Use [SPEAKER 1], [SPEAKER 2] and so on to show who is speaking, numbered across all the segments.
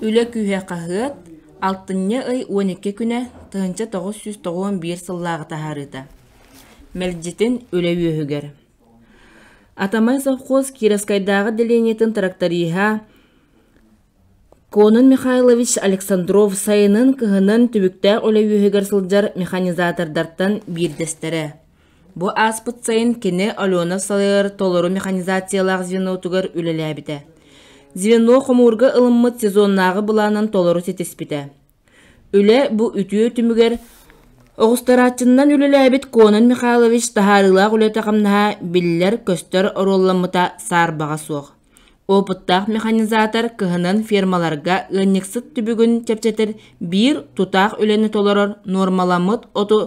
[SPEAKER 1] Үлэ күүһэ хаһыат, алтынньы ый уон икки күнэ, тыһыынча тоҕус сүүс тоҕуон биир сыллааҕы таһаарыыта. Мэлдьитин үлэ үөһүгэр. Атамай совхоз Кировскайдааҕы делениетин тракториһа Конун Михайлович Александров сайынын-кыһынын түбүктээх үлэ үөһүгэр сылдьар механизатордартан биирдэстэрэ. Бу ааспыт сайын кини Алена салайар толору механизациялаах звенотугар үлэлээбитэ. Звено хомуурга ылыммыт сезоннааҕы былаанын толору ситиспитэ. Үлэ бу үтүө түмүгэр оҕустарааччыннан үлэлээбит Конон Михайлович таһаарыылаах үлэтэ-хамнаһа биллэр-көстөр оруолламмыта саарбаҕа суох. Опыттаах механизатор кыһынын фермаларга ыанньыксыт түбүгүн чэпчэтэр биир тутаах үлэни толорор нуормаламмыт оту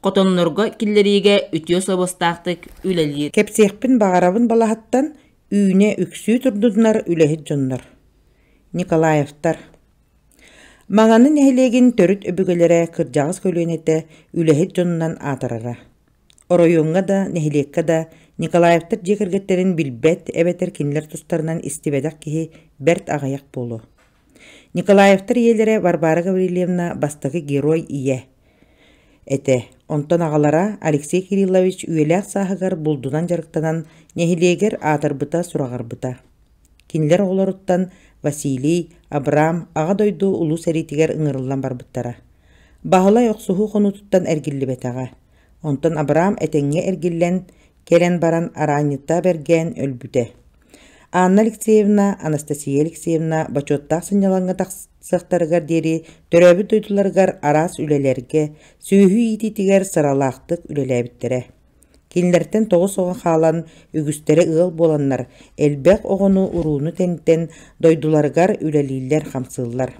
[SPEAKER 1] хотоннорго киллэриигэ үтүө сабыстаахтык үлэлиир. Кэпсиэхпин баҕарабын балаһаттан үүнэ үксүү турдуннар үлэһит дьоннор. Николаевтар Маҥаны нэһилиэгин төрүт өбүгэлэрэ кырдьаҕас көлүөнэтэ үлэһит дьонунан аатырара. Оройуоҥҥа да, нэһилиэккэ да Николаевтар дьиэ кэргэттэрин билбэт эбэтэр кинилэр тустарынан истибэтэх киһи бэрт аҕыйах буолуо. Николаевтар ийэлэрэ Варвара Гаврильевна бастакы герой ийэ этэ. Онтон аҕалара Алексей Кириллович үйэлээх сааһыгар булдунан дьарыктанан нэһилиэгэр аатырбыта сураҕарбыта. Кинилэр оҕолоруттан Василий, Абрам Аҕа дойду Улуу сэриитигэр ыҥырыллан барбыттара. Баһылай охсуһуу хонуутуттан эргиллибэтэҕэ. Онтон Абраам этэҥҥэ эргиллэн, кэлэн баран араанньыттаах бэргээн өлбүтэ. Анна Алексеевна, Анастасия Алексеевна бочуоттаах сынньалаҥҥа тахсыахтарыгар диэри төрөөбүт дойдуларыгар араас үлэлэргэ, сүөһү иитиитигэр сыралаахтык үлэлээбиттэрэ. Кинилэртэн тоҕус оҕо хаалан, үгүстэрэ ыал буоланнар, элбэх оҕону урууну тэнитэн, дойдуларыгар үлэлииллэр-хамсыыллар.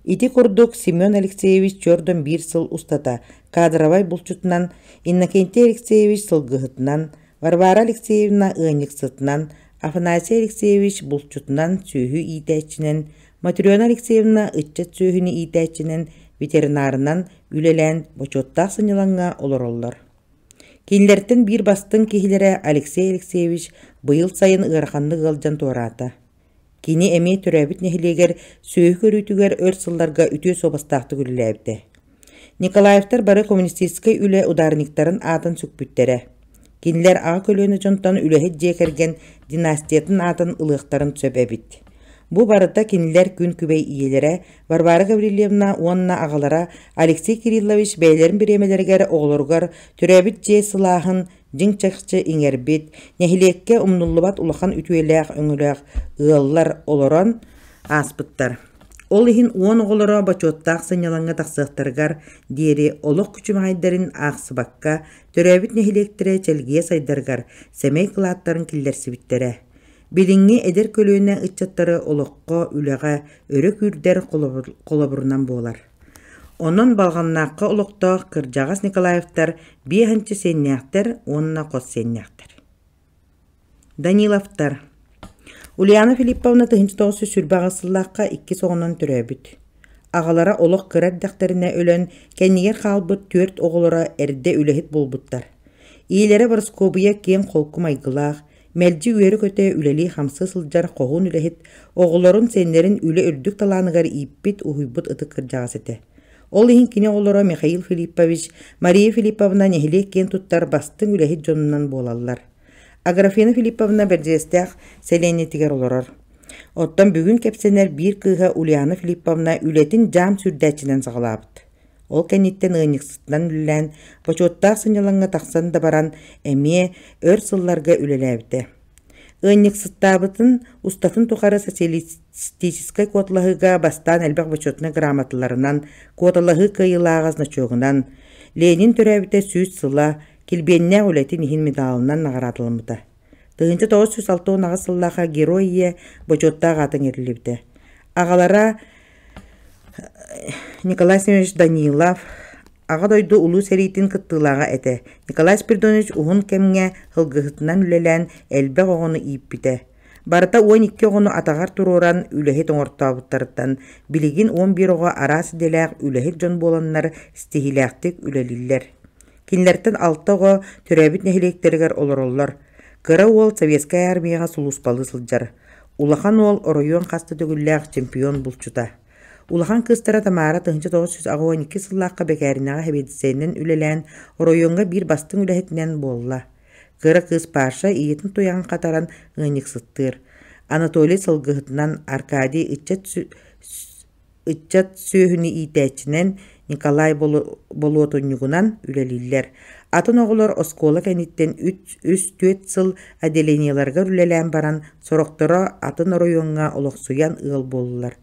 [SPEAKER 1] Ити курдук Семен Алексеевич түөрдөн биир сыл устата кадровай булчутунан, Иннокентий Алексеевич сылгыһытынан, Варвара Алексеевна ыанньыксытынан, Афанасий Алексеевич булчутунан сүөһү иитээччинэн, Матрена Алексеевна ыччат сүөһүнү иитээччинэн, ветеринарынан үлэлээн бочуоттаах сынньалаҥҥа олороллор. Кинилэртэн биир бастыҥ киһилэрэ Алексей Алексеевич быйыл сайын ыараханнык ыалдьан туораата. Кини эмиэ төрөөбүт нэһилиэгэр сүөһү көрүүтүгэр өр сылларга үтүө суобастаахтык үлэлээбитэ. Николаевтар бары коммунистическай үлэ ударниктарын аатын сүкпүттэрэ. Кинилэр аҕа көлүөнэ дьонтон үлэһит дьиэ кэргэн династиятын аатын ылыахтарын сөп эбит. Бу барыта кинилэр күн күбэй ийэлэрэ Варвара Гаврильевна уонна аҕалара Алексей Кириллович бэйэлэрин бириэмэлэригэр оҕолоругар төрөөбүт дьиэ сылааһын дьиҥ чахчы иҥэрбит, нэһилиэккэ умнуллубат улахан үтүөлээх өҥөлөөх ыаллар олорон ааспыттар. Ол иһин уон оҕолоро бочуоттаах сынньалаҥҥа тахсыахтарыгар диэри олох күчүмэҕэйдэрин аахсыбакка, төрөөбүт нэһилиэктэрэ чэлгийэ сайдарыгар сэмэй кылааттарын киллэрсибиттэрэ. Билиҥҥи эдэр көлүөнэ ыччаттары олоххо, үлэҕэ өрө күүрдэр холобурунан буолар. Онон Балҕаннаахха олохтоох кырдьаҕас Николаевтар биэс анчы сиэннээхтэр уонна хос сиэннээхтэр. Даниловтар Ульяна Филипповна тыһыынча тоҕус сүүс сүүрбэ аҕыс сыллаахха иккис оҕонон төрөөбүт. Аҕалара олох кыра эрдэхтэринэ өлөн, кэннигэр хаалбыт түөрт оҕолоро эрдэ үлэһит буолбуттар. Ийэлэрэ Бороскуобуйа киэҥ-холку майгылаах, Мэлдьи үөрэ-көтө үлэлии-хамсыы сылдьар хоһуун үлэһит, оҕолорун, сиэннэрин үлэ үрдүк талааныгар ииппит, уһуйбут ытык кырдьаҕас этэ. Ол иһин кини оҕолоро Михаил Филиппович, Мария Филипповна нэһилиэк киэн туттар бастыҥ үлэһит дьонунан буолаллар. Аграфена Филипповна Бэрдьиэстээх сэлиэнньэтигэр олорор. Оттон бүгүн кэпсэнэр биир кыыһа Ульяна Филипповна үлэтин дьаам сүрдээччинэн саҕалаабыт. Ол кэнниттэн ыанньыксытынан үлэлээн, бочуоттаах сынньалаҥҥа тахсан да баран, эмиэ өр сылларга үлэлээбитэ. Ыанньыксыттаабытын устатын тухары социалистическай куоталаһыыга бастаан элбэх бочуотунай грамоталарынан, куоталаһыы кыайыылааҕа значогунан, Ленин төрөөбүтэ сүүс сыла, килбиэннээх үлэтин иһин медалынан наҕараадаламмыта. Тыһыынча тоҕус сүүс алта уон аҕыс сыллаах Герой ийэ бочуоттаах аатын иитиллибитэ. Аҕалара Николай Семенович Данилов Аҕа дойду Улуу сэриитин кыттыылааҕа этэ. Николай Спиридонович уһун кэмҥэ сылгыһытынан үлэлээн элбэх оҕону ииппитэ. Барыта уон икки оҕону атаҕар туруоран үлэһит оҥортообуттарыттан билигин он биир оҕо араас идэлээх үлэһит дьон буоланнар ситиһиилээхтик үлэлииллэр. Кинилэриттэн алта оҕо төрөөбүт нэһилиэктэригэр олороллор. Кыра уол Советскай армияҕа сулууспалыы сылдьар. Улахан уол оройуон хас да төгүллээх чемпион булчута. Улахан кыыстара Тамара 1902 сыллаахха бэкээринэҕэ хэбиэдиссэйинэн үлэлээн оройуонга биир бастыҥ үлэһитинэн буолла. Кыра кыыс Паша ийэтин туйаҕын хатаран ыанньыксыттыыр. Анатолий сылгыһытынан Аркадий ыччат Ыччат сүөһүнү иитээччинэн Николай болуотунньугунан үлэлииллэр. Атын оҕолор оскуола кэнниттэн үс-түөрт сыл отделениеларыгар үлэлээн баран, сорохторо атын оройуоҥҥа олохсуйан ыал буоллулар.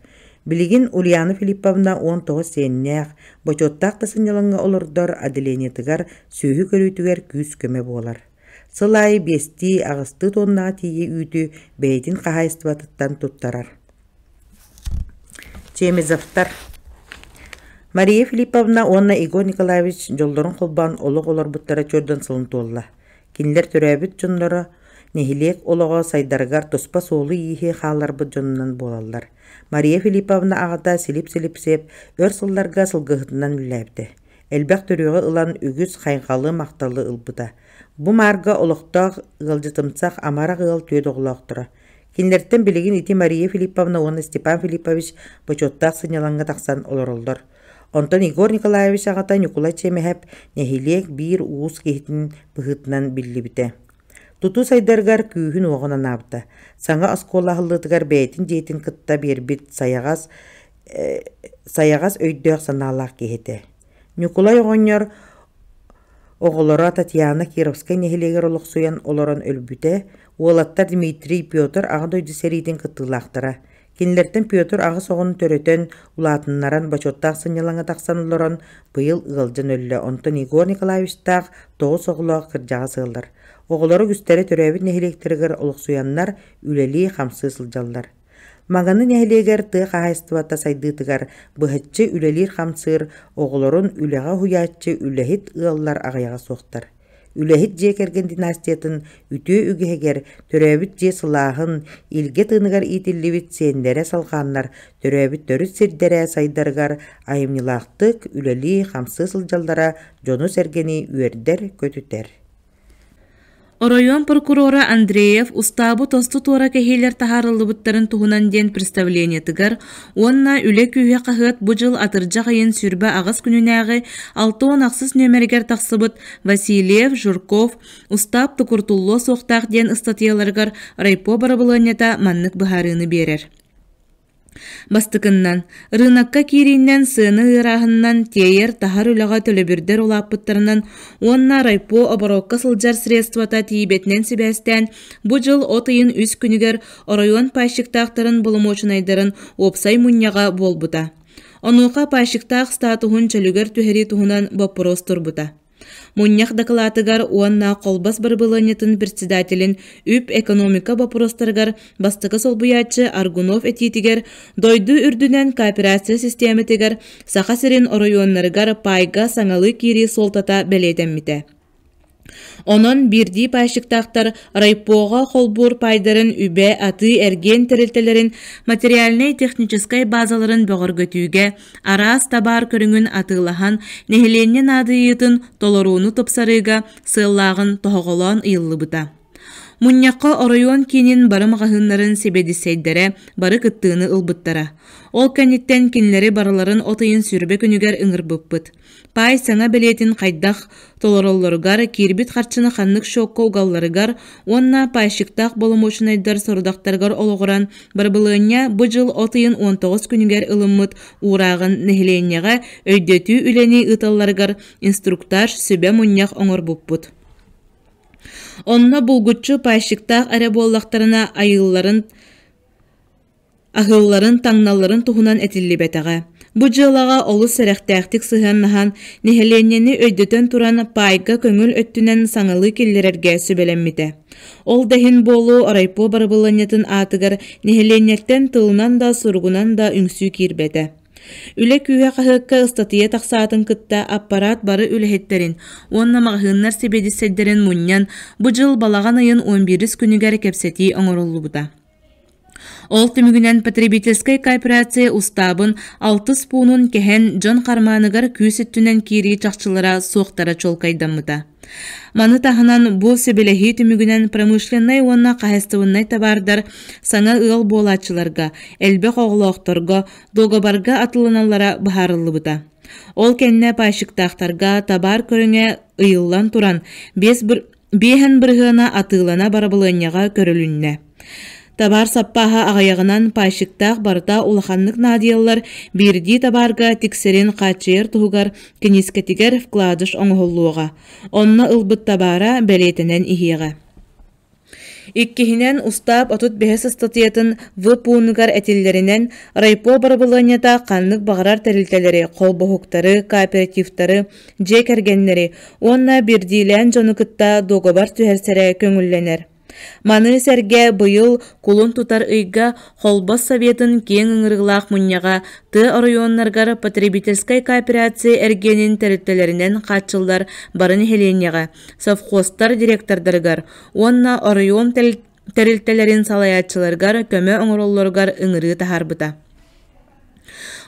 [SPEAKER 1] Билигин Ульяна Филипповна уон тоҕус сиэннээх, бочуоттаах да сынньалаҥҥа олордор отделениетыгар сүөһү көрүүтүгэр күүс-көмө буолар. Сыл аайы биэстии, аҕыстыы туоннаҕа тиийэ үүтү бэйэтин хаһаайыстыбатыттан туттарар. Чемизовтар Мария Филипповна уонна Егор Николаевич дьоллорун холбоон олох олорбуттара чөрдөн сылын туолла. Кинилэр төрөөбүт дьонноро нэһилиэк олоҕо сайдарыгар туспа суолу-ииһи хаалларбыт дьонунан буолаллар. Мария Филипповна аҕата Силип Силипсип өр сылларга сылгыһытынан үллээбитэ. Элбэх төрүөҕү ылан үгүс хайҕалы-махталы ылбыта. Бу маарга олохтоох ыалдьытымсах амарах ыал түөрт оҕолоохторо Кинилэртэн билигин ити Мария Филипповна уонна Степан Филиппович бочуоттаах сынньалаҥҥа тахсан олороллор. Онтон Егор Николаевич аҕата Ньукулай Чэмэһэп нэһилиэк биир уус киһитин быһыытынан биллибитэ. Тутуу сайдарыгар күүһүн-уоҕун анаабыта. Саҥа оскуола аһыллыытыгар бэйэтин дьиэтин кытта биэрбит сайаҕас, э, сайаҕас өйдөөх-санаалаах киһи этэ. Ньукулай оҕонньор оҕолоро Татьяна Кировскай нэһилиэгэр олохсуйан олорон өлбүтэ Уолаттар Дмитрий, Петр Аҕа дойду сэриитин кыттыылаахтара. Кинилэртэн Петр аҕыс оҕону төрөтөн, улаатыннаран, бочуоттаах сынньалаҥҥа тахсан олорон, быйыл ыалдьан өллө. Онтон Егор Николаевичтаах тоҕус оҕолоох кырдьаҕас ыаллар. Оҕолоро үгүстэрэ төрөөбүт нэһилиэктэригэр олохсуйаннар, үлэлии-хамсыы сылдьаллар. Маҥаны нэһилиэгэр тыа хаһаайыстыбата сайдыытыгар быһаччы үлэлиир-хамсыыр, оҕолорун үлэҕэ уһуйааччы, үлэһит ыаллар аҕыйаҕа суохтар. Үлэһит дьиэ кэргэн династиятын үтүө үгэһигэр төрөөбүт дьиэ сылааһын, илгэ тыыныгар иитиллибит сиэннэрэ салҕааннар төрөөбүт төрүт сирдэрэ сайдарыгар айымньылаахтык үлэлии-хамсыы сылдьаллара дьону-сэргэни үөрдэр-көтүтэр. Оройуон прокурора Андреев устаабы тосту туора кэһиилэр таһаарыллыбыттарын туһунан диэн представлениетыгар Уонна үлэ күүһэ хаһыат бу дьыл атырдьах ыйын сүүрбэ аҕыс күнүнээҕи алта уон ахсыс нүөмэригэр тахсыбыт Васильев, Журков, устаап тукуртуллуо суохтаах диэн ыстатыйаларыгар райпо барабылыанньата маннык быһаарыыны биэрэр. Бастыкыннан, рынокка киирииннэн сыаны ыарааһыннан тиэйэр-таһар үлэҕэ төлөбүрдэр улааппыттарынан уонна райпо оборуокка сылдьар средствота тиийбэтинэн сибээстээн бу дьыл от ыйын үс күнүгэр Оройуон пайщиктаахтарын боломуочунайдарын уопсай мунньаҕа буолбута. Онуоха пайщиктаах статуһун чөлүгэр түһэрии туһунан боппуруос турбута. Мунньах дакылаатыгар уонна колбас бырабылыанньатын председателин үп-экономика боппуруостарыгар бастакы солбуйааччы Аргунов этиитигэр дойду үрдүнэн кооперация систематыгар Саха сирин оройуоннарыгар паайга саҥалыы киирии суолтата бэлиэтэммитэ. Онон биирдии пайщиктаахтар райпоҕа холбуур паайдарын үбэ-атыы-эргиэн тэрилтэлэрин материальнай-техническэй баазаларын бөҕөргөтүүгэ араас табаар көрүҥүн атыылаһан, нэһилиэнньэ наадыйыытын толорууну тупсарыыга сыаллааҕын тоһоҕолоон ыйыллыбыта. Мунньахха оройуон киинин бары маҕаһыыннарын сэбиэдиссэйдэрэ бары кыттыыны ылбыттара. Ол кэнниттэн кинилэри барыларын от ыйын сүрбэ күнүгэр ыҥырбыппыт. Паай саҥа бэлиэтин хайдах толороллоругар, киирбит харчыны ханнык шокка угалларыгар уонна пайщиктаах боломуочунайдар сорудахтарыгар олоҕуран, бырабылыанньа бу дьыл от ыйын 19 күнүгэр ылыммыт уурааҕын нэһилиэнньэҕэ өйдөтүү үлэни ыыталларыгар инструктаж сүбэ-мунньах оҥорбуппут. Онно булгуччу пайщиктаах эрэ буоллахтарына айыылларын аһыылларын таҥналарын туһунан этиллибэтэҕэ. Бу дьыалаҕа олус сэрэхтээхтик сыһыаннаһан, нэһилиэнньэни өйдөтөн туран паайга көҥүл өттүнэн саҥалыы киллэрэргэ сүбэлэммитэ. Ол да иһин буолуу райпо барабыланньатын аатыгар нэһилиэнньэттэн тылынан да суругунан да үҥсүү киирбэтэ. Үлэ күүһэ хаһыакка ыстатыйа тахсаатын кытта аппарат бары үлэһиттэрин уонна маҕаһыыннар сэбиэдиссэйдэрин мунньан бу дьыл балаҕан ыйын 11 күнүгэр кэпсэтии оҥоруллубута. Ол түмүгүнэн потребительскай кооперация устаабын алтыс пуунун кэһэн дьон хармааныгар күүс өттүнэн киирии чахчылара суохтара чуолкайдаммыта. Маны таһынан бу сөбүлэһии түмүгүнэн промышленнай уонна хаһаайыстыбыннай табаардар саҥа ыал буолааччыларга, элбэх оҕолоохторго, договарга атылыналлара быһаарыллыбыта. Ол кэннэ пайщиктаахтарга табаар көрүҥэ ыйыллан туран, 5 Биэһэн бырыһыана атыылана барабылыанньаҕа көрүлүннэ. Табаар саппааһа аҕыйаҕынан паайщиктаах барыта улаханнык наадыйаллар, биирдии табаарга тиксэрин хааччыйар туһугар киниискэтигэр вкладыш оҥоһуллуоҕа. Онно ылбыт табаара бэлиэтэнэн иһиэҕэ. Иккиһинэн, устаап отут бэһис ыстатыйатын ВПУ-нугар этиллэринэн, райпо барабылыанньата ханнык баҕарар тэрилтэлэри, холбоһуктары, кооперативтары, дьиэ кэргэннэри уонна биирдиилээн дьону кытта дуогабар түһэрсэрэ көҥүллэнэр. Маны сэргэ быйыл кулун тутар ыйга Холбос Советын киэҥ ыҥырыылаах мунньаҕа тыа оройуоннарыгар потребительскай кооперация эргиэнин тэрилтэлэринэн хааччыллар бары нэһилиэнньэҕэ, совхозтар директордарыгар уонна оройуон тэрилтэлэрин салайааччыларыгар көмө оҥороллоругар ыҥырыы таһаарбыта.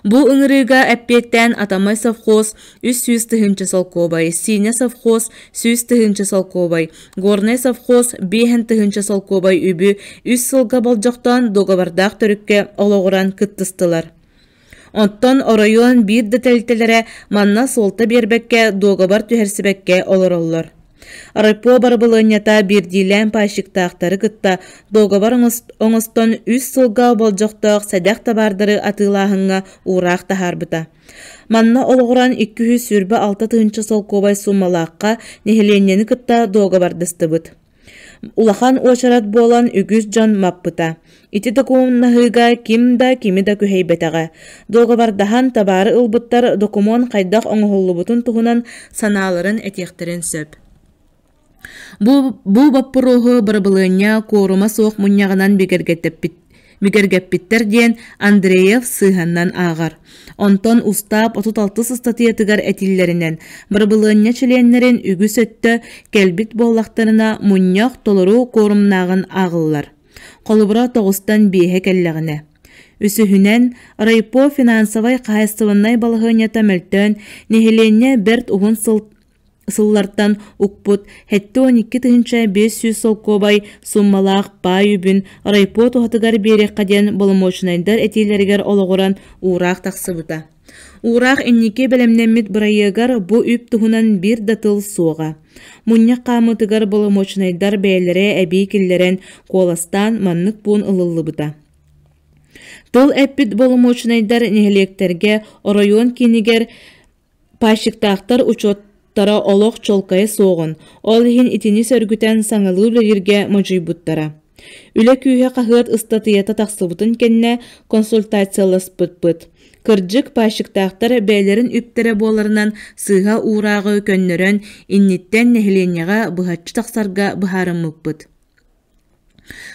[SPEAKER 1] Бу ыҥырыыга эппиэттээн Атамай совхоз үс сүүс тыһыынча солкуобай, Синя совхоз сүүс тыһыынча солкуобай, Горнай совхоз биэһэн тыһыынча солкуобай үбү үс сылга болдьохтоон договордаах төрүккэ олоҕуран кыттыстылар. Оттон оройуон биир да тэрилтэлэрэ манна суолта биэрбэккэ, дуогабар түһэрсибэккэ олороллор. Райпо барабылыанньата биирдиилээн пайщиктаахтары кытта дуогабар оҥостон үс сылга болдьохтоох сэдэх табаардары атыылааһыҥҥа уураах таһаарбыта. Манна олоҕуран 200 сүүрбэ алта тыһыынча солкуобай сууммалаахха нэһилиэнньэни кытта дуогабардастыбыт. Улахан уочарат буолан үгүс дьон маппыта. Ити докумуоннаһыыга ким да кими да күһэйбэтэҕэ. Договардаһан табаары ылбыттар докумуон хайдах оҥоһуллубутун туһунан санааларын этиэхтэрин сөп. Бу, бу боппуруоһу бырабылыанньа куурума суох мунньаҕынан бигэргэттэппит Мүгэргэппиттэр диэн Андреев сыһаннан ааҕар. Онтон устаап 36 ыстатыйатыгар этиллэринэн, барабылыанньа чилиэннэрин үгүс өттө кэлбит буоллахтарына мунньах толору куорумнааҕын ааҕыллар. Холобура тоҕустан биэһэ кэллэҕинэ. Үсүһүнэн, райпо финансовай хаһаайыстыбаннай балаһыанньата мөлтөөн, нэһилиэнньэ бэрт уһун сыл Сыллартан укпут 72 тыһыынча 500 солкуобай сууммалаах паай үбүн райпо туһатыгар биэриэххэ диэн боломуочунайдар этиилэригэр олоҕуран уураах тахсыбыта. Уураах инники бэлэмнэммит бырайыагар бу үп туһунан биир да тыл суоҕа. Мунньах хаамыытыгар боломуочунайдар бэйэлэрэ эбии киллэрэн куоластаан маннык пуун ылыллыбыта. Тыл эппит боломуочунайдар нэһилиэктэргэ оройуон киинигэр Паасчыктаахтар учуоттара олох чуолкайа суоҕун, ол иһин итини сөргүтэн саҥалыы үлэлииргэ модьуйбуттара. Үлэ күүһэ хаһыат ыстатыйата тахсыбытын кэннэ консультацияласпыппыт. Кырдьык, паасчыктаахтар бэйэлэрин үптэрэ буоларынан сыыһа уурааҕы көннөрөн, инниттэн нэһилиэнньэҕэ быһаччы тахсарга быһаарыммыппыт.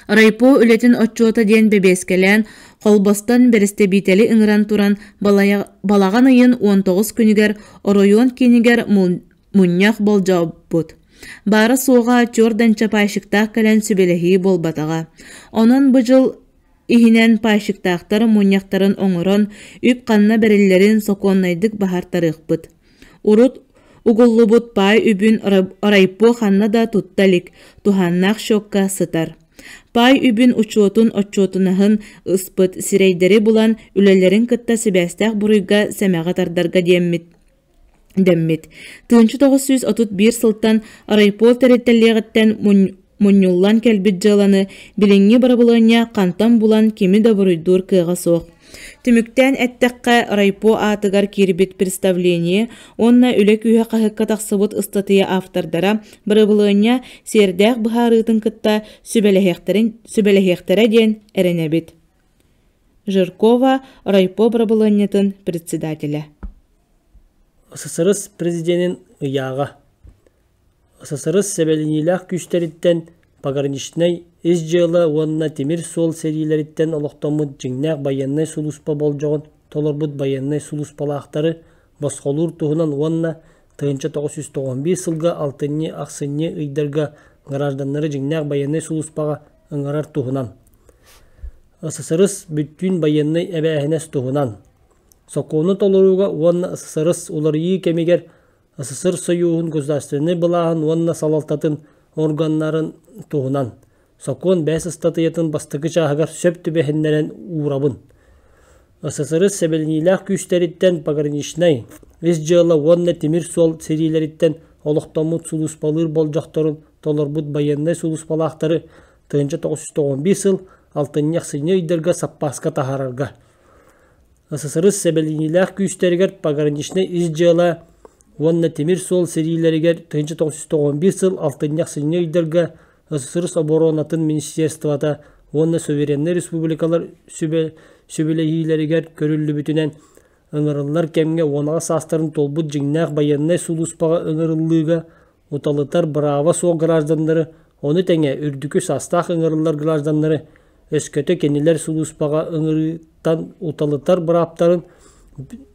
[SPEAKER 1] Райпо үлэтин отчуота диэн бэбиэскэлээн, холбостон бэрэстэбиитэли ыҥыран туран балаҕан ыйын 19 күнүгэр оройуон киинигэр мунньах болдьообут. Баара-суоҕа черданчапайщиктаах кэлэн сүбэлэһии буолбатаҕа. Онон бу дьыл Иһинэн паайщиктаахтар мунньахтарын оҥорон, үп-ханна бэриллэрин сокуоннайдык баһартарыахпыт. Урут угуллубут паай үбүн райпо ханна да тутта илик, туһааннаах счекка сытар. Паай үбүн учуотун отчуотунаһын ыспыт сирэйдэри булан, үлэлэрин кытта сибээстээх буруйга сэмэҕи тардарга диэммит. дэммит. Тыынча тоҕус сүүс отут биир сылтан райпол тэрилтэлиэҕиттэн мунньуллан кэлбит дьыаланы билиҥҥи бырабылыанньа хантан булан кими да буруйдуур кыаҕа суох. Түмүктээн эттэххэ, райпо аатыгар киирбит представление уонна үлэ күүһэ хаһыкка тахсыбыт ыстатыйа автордара бырабылыанньа сиэрдээх быһаарыытын кытта сүбэлэһиэхтэрэ диэн эрэнэбит. Жиркова райпо бырабылыанньатын председателэ ССРС президенин ыйааҕа ССРС сэбилэниилээх күүстэриттэн пограничнай ис дьыала уонна тимир суол сэриилэриттэн олохтоммут дьиҥнээх байыаннай сулууспа болдьоҕун толорбут байыаннай сулууспалаахтары босхолуур туһунан уонна тыһыынча тоҕус сүүс тоҕон биир сылга алтынньы-ахсынньы ыйдарга гражданнары дьиҥнээх байыаннай сулууспаҕа ыҥырар туһунан, ССРС бүттүүн байыаннай эбээһинэс туһунан, сокуону толорууга уонна ССРС уларыйыы кэмигэр СССР Союһун государственнай былааһын уонна салалтатын органнарын туһунан сокуон бэс ыстатыйатын бастакы чааһыгар сөп түбэһиннэрэн уурабын. ССРС сэбилэниилээх күүстэриттэн пограничнай, ис дьыала уонна тимир суол сэриилэриттэн олохтоммут сулууспалыыр болдьохторун толорбут байыаннай сулууспалаахтары тыһыынча тоҕус сүүс тоҕон биир сыл алтынньы ахсынньы ыйдарга саппааска таһаарарга ССРС сэбилиниилээх күүстэригэр пограничнай ис дьыала уонна тимир суол сэриилэригэр тыһыынча тоҕус сүүс тоҕон биир сыл алтынньы ахсынньы ыйдарга ССРС оборонатын министерствота уонна сувереннай республикалар сүбэлэһиилэригэр көрүллүбүтүнэн ыҥырыллар кэмҥэ уонаҕа саастарын туолбут дьиҥнээх байыаннай сулууспаҕа ыҥырыллыыга уталытар бырааба суох гражданнары, ону тэҥэ үрдүкү састаах ыҥырыллар гражданнары өскөтө кинилэр сулууспаҕа ыҥырыыттан уталытар бырааптарын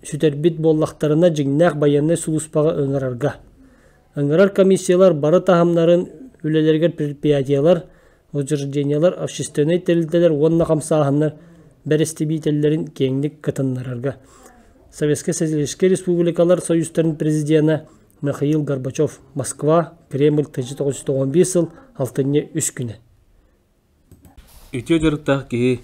[SPEAKER 1] сүтэрбит буоллахтарына дьиҥнээх байыаннай сулууспаҕа ыҥырарга. Ыҥырар комиссиялар бары таһымнарын үлэлэригэр предприятиелар, учреждениелар, общественнай тэрилтэлэр уонна хамсааһыннар бэрэстэбиитэллэрин киэҥник кытыннарарга. Советскай Социалистическай Республикалар Союзтарын президенэ Михаил Горбачев Москва, Кремль 1995 сыл алтынньы үс күнэ. Үтүө дьарыктаах киһи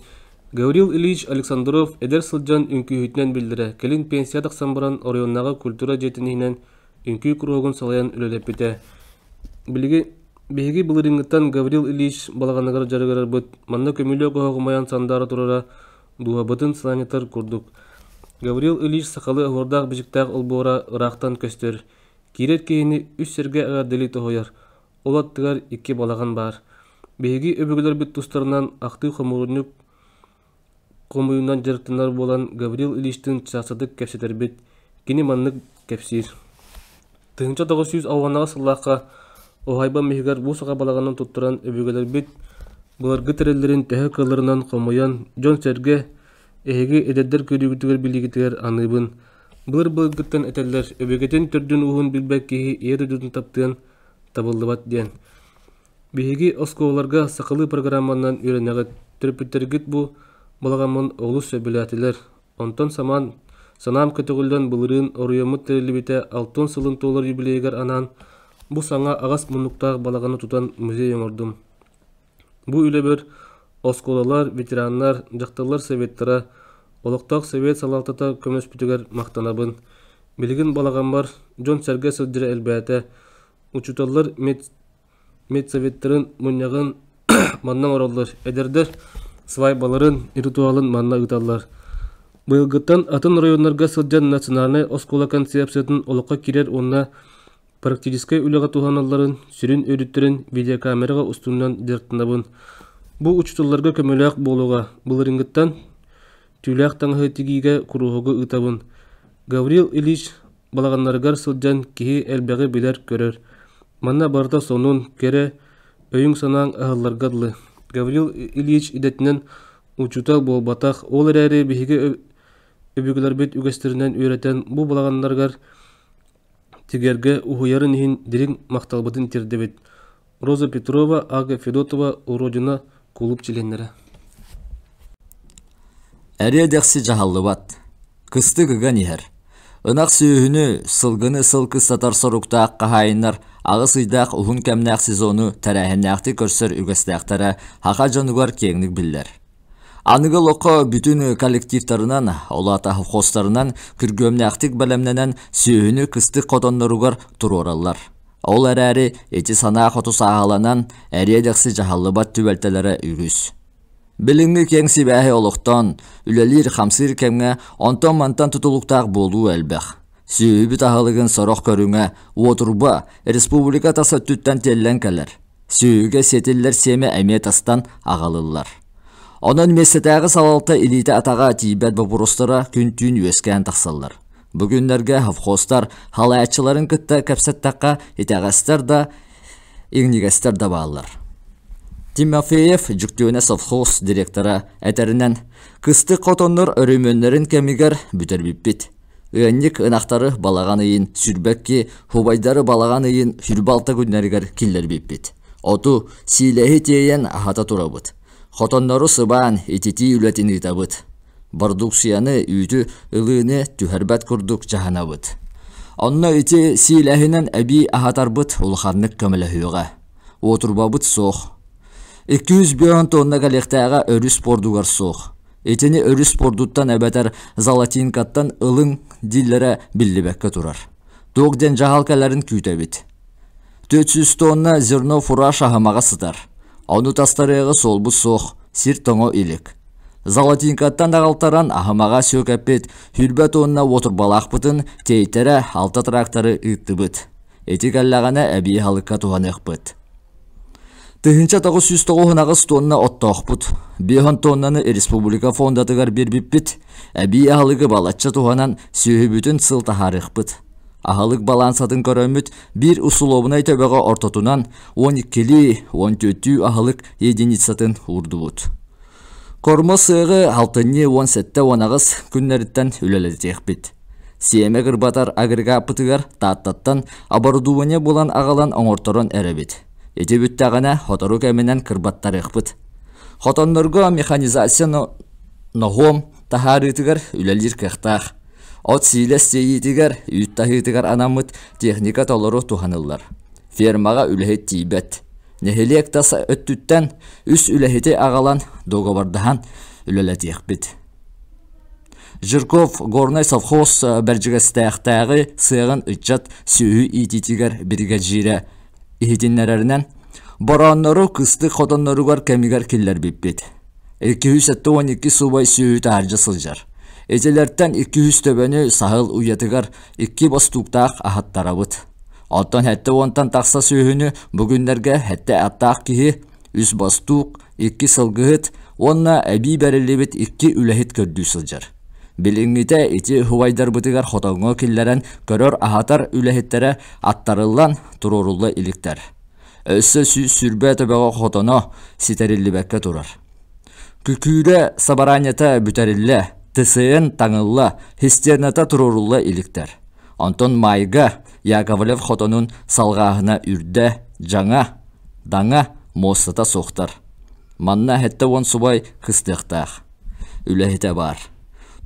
[SPEAKER 1] Гаврил Ильич Александров эдэр сылдьан үҥкүүһүтүнэн биллэрэ кэлин пенсия тахсан баран оройуоннааҕы культура дьиэтиниһинэн үҥкүү куруһуогун салайан үлэлэппитэ. Билиги биһиги былырыыҥҥыттан Гаврил Ильич балаҕаныгар дьарыгырарбыт манна көмүлүөк оһоҕумайан сандаара турара Дууһабытын сыланньытар курдук, Гаврил Ильич сахалыы оһуордаах-бичиктээх олбуора ыраахтан көстөр, киирэр киһини үс сэргэ эҕэрдэлии тоһуйар, ол аттыгар икки балаҕан баар. Биһиги өбүгэлэрбит тустарынан ахтыы хомуурунньук хомуйуунан дьарыктанар буолан, Гаврил Ильичтыын саастатык кэпсэтэрбит, кини маннык кэпсиир. Тыһыынча тоҕус сүүс ауһанаҕа сыллаахха уһаайбам иһигэр бу саха балаҕанын туттаран өбүгэлэрбит былыргы тэриллэрин төһө кыалларынан хомуйан дьон-сэргэ, эһиги эдэрдэр көрүүгүтүгэр билиигитигэр аныыбын. Былыр былыргыттан этэллэр өбүгэтин төрдүн-ууһун билбэт киһи ийэ дойдутун таптыан табыллыбат диэн. Биһиги оскуолаларга сахалыы программанан үөрэнэҕит. Төрөппүттэргит бу балаҕаммын олус сөбүлээтилэр, Онтон Саман, санаам көтөҕүллэн былырыын оройуоммут тэриллибитэ алтыан сылын туолар юбилейыгар анаан бу саҥа аҕас муннуктаах балаҕаны тутан музей оҥордум. Бу үлэбэр оскуолалар, ветераннар, дьахталлар советтара, олохтоох совет салалтата көмөлөспүтүгэр махтанабын. Билигин балаҕаммар дьон-сэргэ сылдьара элбээтэ, учууталлар мед медсоветтарын мунньаҕын манна оҥороллор, эдэрдэр свайбаларын, ритуалын манна ыыталлар. Быйылгыттан атын оройуоннарга сылдьан национальнай оскуола концепциятын олоххо киирэр уонна практическай үлэҕэ туһаналларын, сүрүн өрүттэрин видеокамераҕа устунан дьарыктанабын. Бу учууталларга көмөлөөх буолуоҕа. Былырыыҥҥыттан түүлээх таҥаһы тигиигэ куруһуогу ыытабын. Гаврил Ильич балаҕаннарыгар сылдьан киһи элбэҕи билэр-көрөр. Манна барыта сонун, кэрэ, өйүҥ-санааҥ аһылларга дылы. Гаврил Ильич идэтинэн учуутал буолбатах, ол эрээри биһиги өбүгэлэрбит үгэстэринэн үөрэтэн бу балаҕаннарыгар тигэргэ уһуйарын иһин дириҥ махталбытын тиэрдэбит. Роза Петрова, Ага Федотова Уродина кулууп чилиэннэрэ Эриэ-дэхси дьаһаллыбат. Кыстык ыган иһэр. Ынах сүөһүнү, сылгыны сыл кыстатар соруктаах хаһаайыннар аҕыс ыйдаах уһун кэмнээх сезону тэрээһиннээхтик көрсөр үгэстээхтэрэ саха дьонугар киэҥник биллэр. Аныгы олоххо бүтүн коллективтарынан, олаата холхозтарынан күргүөмнээхтик бэлэмнэнэн сүөһүнү кыстык хотонноругар туруораллар. Ол эрээри ити санаа хоту сааһыланан, эриэ-дэхси дьаһаллыбат түбэлтэлэрэ үгүс. Билиҥҥи киэҥ сибээһи олохтоон, үлэлиир-хамсыыр кэмҥэ онтон-мантан тутулуктаах буолуу элбэх. Сүөһүбүт аһылыгын сорох көрүҥэ, уотурба, республика тас өттүттэн тиэллэн кэлэр. Сүөһүгэ сиэтиллэр сиэмэ эмиэ тастан аҕалыллар. Онон миэстэтээҕи салалта илиитэ-атаҕа тиийбэт бопуруостара күн-түүн үөскээн тахсаллар. Бу күннэргэ совхозтар халааччыларын кытта кэпсэттэххэ, итэҕэстэр да, иҥнигэстэр да бааллар. Тимофеев Дьүктүөнэ совхоз директора этэринэн, кыстык хотоннор өрөмүөннэрин кэмигэр бүтэрбиппит. Ыанньык ынахтары балаҕан ыйын сүрбэкки, убайдары балаҕан ыйын сүрбалта күннэригэр киллэрбиппит. Оту, сиилэһи тиэйэн аһата турабыт. Хотоннору сыбаан, ититии үлэтин ыытабыт. Бородууксуйаны, үүтү, ылыыны түһэрбэт курдук дьаһанабыт. Онно ити сиилэһинэн эбии аһатарбыт улаханнык көмөлөһүөҕэ. Уотурбабыт суох. 200 бөөн туонна кэлиэхтээҕэ өрүс пуордугар суох. Итини өрүс пуордуттан эбэтэр золотинкаттан ылыҥ дииллэрэ биллибэккэ турар. Туох диэн дьаһалкаларын күүтэбит. Түөрт сүүс туонна зерно фураж аһымаҕа сытар. Ону тастарыаҕа суолбут суох, сир-тоҥо илик. Золотинкаттан аҕалтаран аһымаҕа сүөкэппит хүрбэт уонна уотурбалаахпытын тиэйтэрэ алта тракторы ыыттыбыт. Ити кэллэҕинэ эбии халыкка туһаныахпыт. Тыһыынча тоҕус сүүс тоҕус аҕыс туонна оттоохпут. Биэһон туоннаны республика фондатыгар биэрбиппит. Эбии аһылыгы балачча туһанан сүөһүбүтүн сыл таһаарыахпыт. Аһылык балаансатын көрөммүт биир усулуобунай төбөҕө ортотунан 12-14 аһылык единицатын уурдубут. Кормо сыаҕы алтынньы уон сэттэ уон аҕыс күннэриттэн үлэлэтиэхпит. Сиэмэ кырбатар агрегаппытыгар Тааттаттан оборудование булан аҕалан оҥорторон эрэбит. Ити бүттэҕинэ сотору кэминэн кырбаттарыахпыт. Хотоннорго механизация ноһуом Таһаарыытыгар үлэлиир кыахтаах. От сиилэс тиэйиитигэр, үүт таһыытыгар анаммыт техника толору туһаныллар. Фермаҕа үлэһит тиийбэт. Нэһилиэк тас өттүттэн үс үлэһити аҕалан договордаһан үлэлэтиэхпит. Жирков горнай совхоз Бэрдьигэстээхтээҕи сыаҕын ыччат сүөһү иитиитигэр биригэдьиирэ иһитиннэрэринэн, борооннору кыстык хотонноругар кэмигэр киллэрбиппит. Икки-үс сэттэ уон икки субай сүүһү таһырдьа сылдьар. Итилэртэн икки-үс төбөнү саһыл уйатыгар икки бостууктаах аһаттарабыт. Оттон сэттэ уонтан тахса сүүһүнү бу күннэргэ сэттэ аттаах киһи, үс бостуук, икки сылгыһыт уонна эбии бэриллибит икки үлэһит көрдүү сылдьар. Билиҥҥитэ ити уһуйдарбытыгар хотоҥҥо киллэрэн көрөр-аһатар үлэһиттэрэ аттарыллан туруорулла иликтэр. Өссө сүүрбэ төбөҕө хотоно ситэриллибэккэ турар. Күкүүрэ сабараанньата бүтэриллэ, ТСН таҥылла, хистерната туруорулла иликтэр. Онтон Майга Яковлев хотонун салҕааһына үрдэ, дьаҥа, даҥа муостата суохтар. Манна сэттэ уон субай кыстыахтаах. Үлэһитэ баар.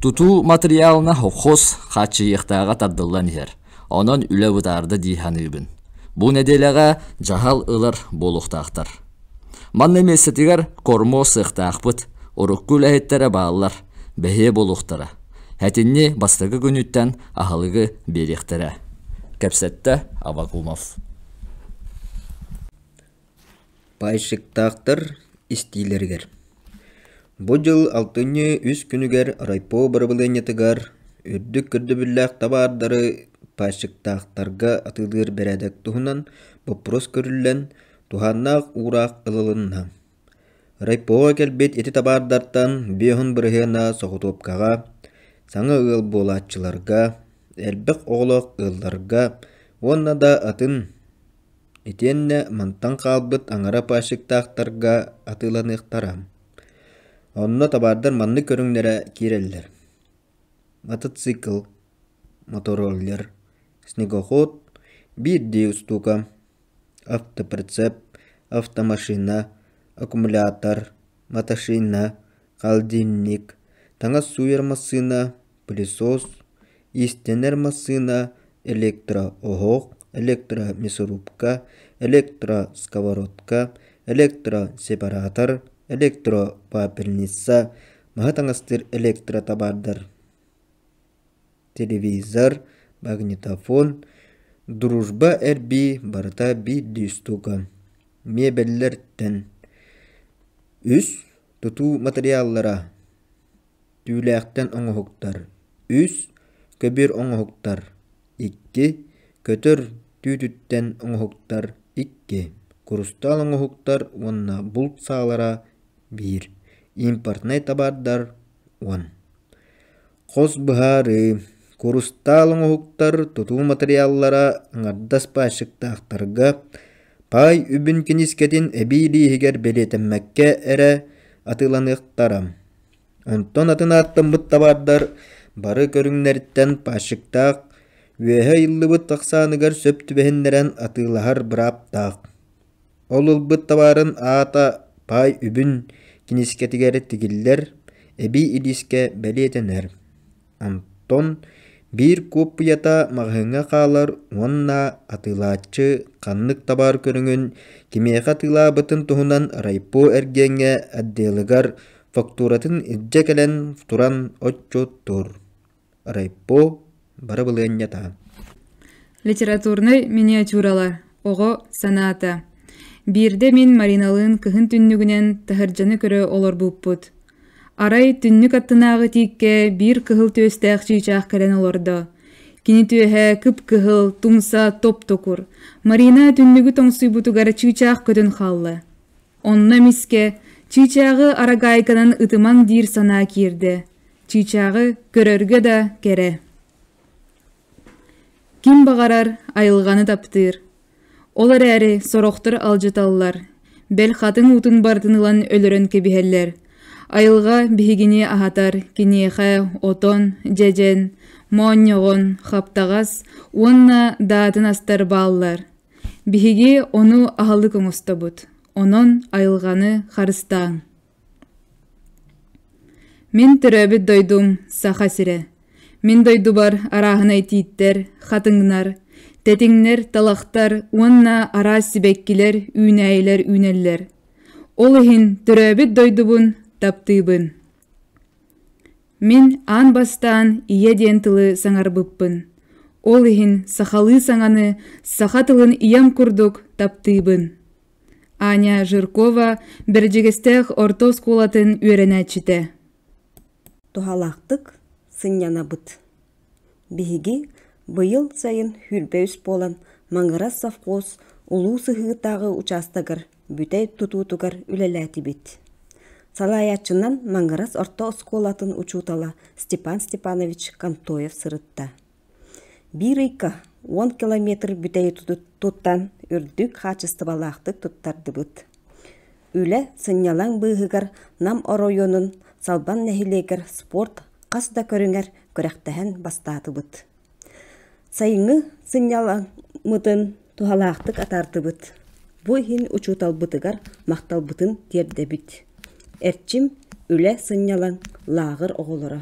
[SPEAKER 1] Тутуу матырыйаалына хос хааччыйыахтааҕа тардыллан иһэр. Онон үлэ бытаарда дии саныыбын. Бу нэдиэлэҕэ дьаһал ылар буолуохтаахтар. Манна миэстэтигэр кормуо сыахтаахпыт, урукку үлэһиттэрэ бааллар, бэһиэ буолуохтара. Этинни бастакы күнүттэн аһылыгы биэриэхтэрэ. Кэпсэттэ Авакумов. Пайщиктаахтар истиилэригэр Бу дьыл алтынньы үс күнүгэр райпо бырабылыанньатыгар үрдүк көрдөбүллээх табаардары пайщиктаахтарга атыылыыр бэрээдэк туһунан боппуруос көрүллэн, туһааннаах уураах ылылынна. Райпоҕа кэлбит ити табаардартан биоһун бырыһыана соҕотуопкаҕа, саҥа ыал буолааччыларга, элбэх оҕолоох ыалларга уонна да атын итиэннэ мантан хаалбыт аҥара паасчыктаахтарга атыыланыахтара. Онно табаардар маннык көрүҥнэрэ киирэллэр: мотоцикл, мотороллер, снегоход, биирдии устуука, автоприцеп, автомашина, аккумулятор, машина, холодильник, таҥас сууйар массыына, пылесос, иистэнэр массыына, электро-оһох, электромясорубка, электросковородка, электросепаратор, электропапельница, маһы таҥастыыр электротабаардар телевизор, магнитофон, дружба эрбии барыта биирдии стука, миэбэллэртэн үс тутуу матырыйааллара түүлээхтэн оҥоһуктар үс көбүөр оҥоһуктар икки көтөр түүтүттэн оҥоһуктар икки курустаал оҥоһуктар уонна булт саалара биир импортнай табаардар уон Хос быһаарыы: Курустаал оҥоһуктар тутуу матырыйааллара аҥардас баайчыктаахтарга, паай үбүн киниискэтин эбии лииһигэр бэлиэтэммэккэ эрэ атыыланыахтара. Онтон атын ааттаммыт табаардар бары көрүҥнэриттэн баайчыктаах, үөһэ ыйыллыбыт ахсааныгар сөп түбэһиннэрэн атыылаһар бырааптаах. Ол ылбыт табаарын аата паай үбүн киниискэтигэр тигиллэр, эбии илиискэ бэлиэтэнэр. Антон биир куоппуйата маҕаһыыҥҥа хаалар уонна атыылааччы ханнык табаар көрүҥүн кимиэхэ атыылаабытын туһунан райпо эргиэҥҥэ отделыгар фактуратын илдьэ кэлэн туран отчуоттуур. райпо барабылыанньа таһын литературнай миниатюралар оҕо санаата биирдэ мин мариналыын кыһын түннүгүнэн таһырдьаны көрө олорбуппут арай түннүк аттынааҕы тииккэ биир кыһыл түөстээх чыычаах кэлэн олордо кини түөһэ кып-кыһыл тумса топ-токур марина түннүгү тоҥсуйбутугар чыычаах көтөн хаалла Онно эмискэ Чыычааҕы арагаайканан ытымаҥ диир санаа киирдэ. Чыычааҕы көрөргө да кэрэ. Ким баҕарар айылҕаны таптыыр. Ол эрээри сорохтор алдьаталлар, бэл хатыҥ уутун барытын ылан өлөрөн кэбиһэллэр. Айылҕа биһигини аһатар киниэхэ отон, дьэдьэн, моонньоҕон, хаптаҕас уонна даатын астар бааллар. Биһиги ону аһылык оҥостобут, онон айылҕаны харыстааҥ. Мин төрөөбүт дойдум Саха сирэ. Мин дойдубар арааһынай тииттэр, хатыҥнар, тэтиҥнэр, талахтар уонна араас сибэккилэр, үүнээйилэр үүнэллэр. Ол иһин төрөөбүт дойдубун таптыыбын. Мин аан бастаан ийэ диэн тылы саҥарбыппын, ол иһин сахалыы саҥаны саха тылын ийэм курдук таптыыбын. Аня Жиркова Бэрдьигэстээх орто оскуолатын үөрэнээччитэ. Туһалаахтык сынньанабыт. Биһиги быйыл сайын сүүрбэ үс буолан Маҥырас совхоз улуу сыһыытааҕы учаастагар бүтэй тутуутугар үлэлээтибит. Салайааччынан Маҥырас орто оскуолатын учуутала Степан Степанович Контоев сырытта. Биир ыйга уон километр бүтэйи туттан үрдүк хаачыстыбалаахтык туттардыбыт. Үлэ сынньалаҥ быыһыгар Нам оройуонун Салбан нэһилиэгэр спорт хас да көрүҥэр күрэхтэһэн бастаатыбыт. Сайыҥҥы сынньалаҥмытын туһалаахтык атаардыбыт. Бу иһин учууталбытыгар махталбытын тиэрдэбит. Эрчим, үлэ сынньалаҥ лааҕыр оҕолоро